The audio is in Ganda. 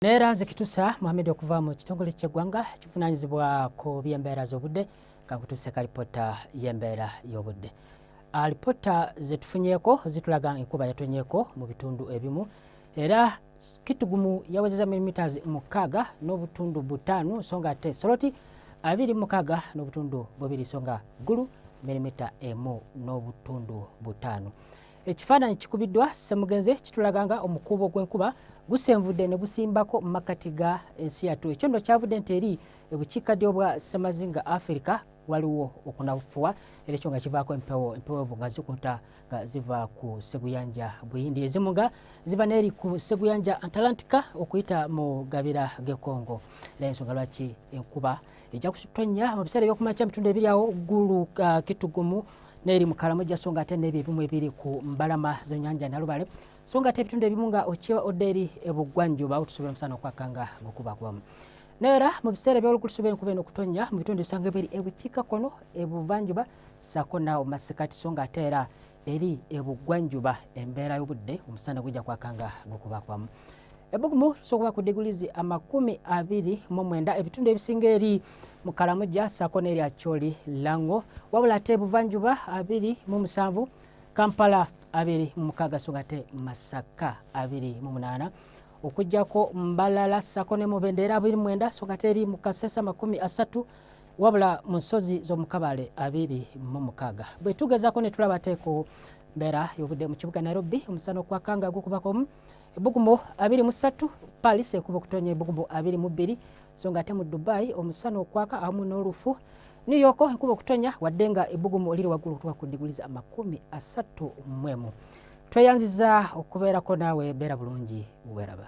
Neera zikitusa Muhammad okuva mu kitongole ky'eggwanga kivunaanyizibwa ku by'embeera z'obudde kakutuuse ka lipoota y'embeera y'obudde ah, lipoota zetufunyeeko zitulaga enkuba yatonyeeko mu bitundu ebimu era kitugumu yawezeza milimiters mukaaga n'obutundu butaano so nga ate soloti abiri mukaaga n'obutundu bubiri so nga ggulu milimita emu n'obutundu butaano Ekifaananyi kikubiddwa Ssemugenze kitulaga nga omukuubo gw'enkuba gusenvudde ne gusimbako mu makkati ga ensi yattu. Ekyo nno kyavudde nti eri ebukiikaddyo bwa Ssemazinga Afirika waliwo okunafuwa era ekyo nga kivaako empewo empewo evo nga zikunta nga ziva ku sseguyanja buyindi ezimu nga ziva n'eri ku sseguyanja Atalantika okuyita mu gabira g'ekongo era ensonga lwaki enkuba ejja kutonnya mu biseera ebyokumakya bitundu ebiri awo ggulu uh, kitugumu n'eri mu kalamojja so nga ate n'ebyo ebimu ebiri ku mbalama z'ennyanja nalubale so nga ate ebitundu ebimu nga okye odda eri ebugwanjuba awo tusobola omusana okwaka nga gukubakubamu naye era mu biseera eby'olugulu tusobola enkuba eno okutonnya mu bitundu ebisange biri ebukiikakkono ebuvanjuba ssaako naawo masekati so nga ate era eri ebugwanjuba embeera y'obudde omusana gujja kwaka nga gukubakwamu ebbugumu sokuba ku digulizi amakumi abiri mu mwenda ebitundu ebisinga eri mu kalamujja saako n'erya coli lango wabula ate ebuvanjuba abiri mu musanvu kampala abiri mu mukaaga so ngate masaka abiri mu munaana okujjako mbalala saako ne mubendera abiri mwenda so ngate eri mu kasesa makumi asatu wabula mu nsozi z'omukabale abiri mu mukaaga bwe tugezaako ne tulaba teeku mbeera y'obudde mu kibuga nairobi omusana okwakanga gukubakomu ebbugumu abiri mu ssatu paris ekuba okutonya ebbugumu abiri mu bbiri so nga ate mu dubai omusana okwaka awamu n'olufu new york ekuba okutonya wadde nga ebbugumu oliri waggulu okutuka ku diguli za amakumi asatu mwemu tweyanziza okubeerako naawe beera bulungi weraba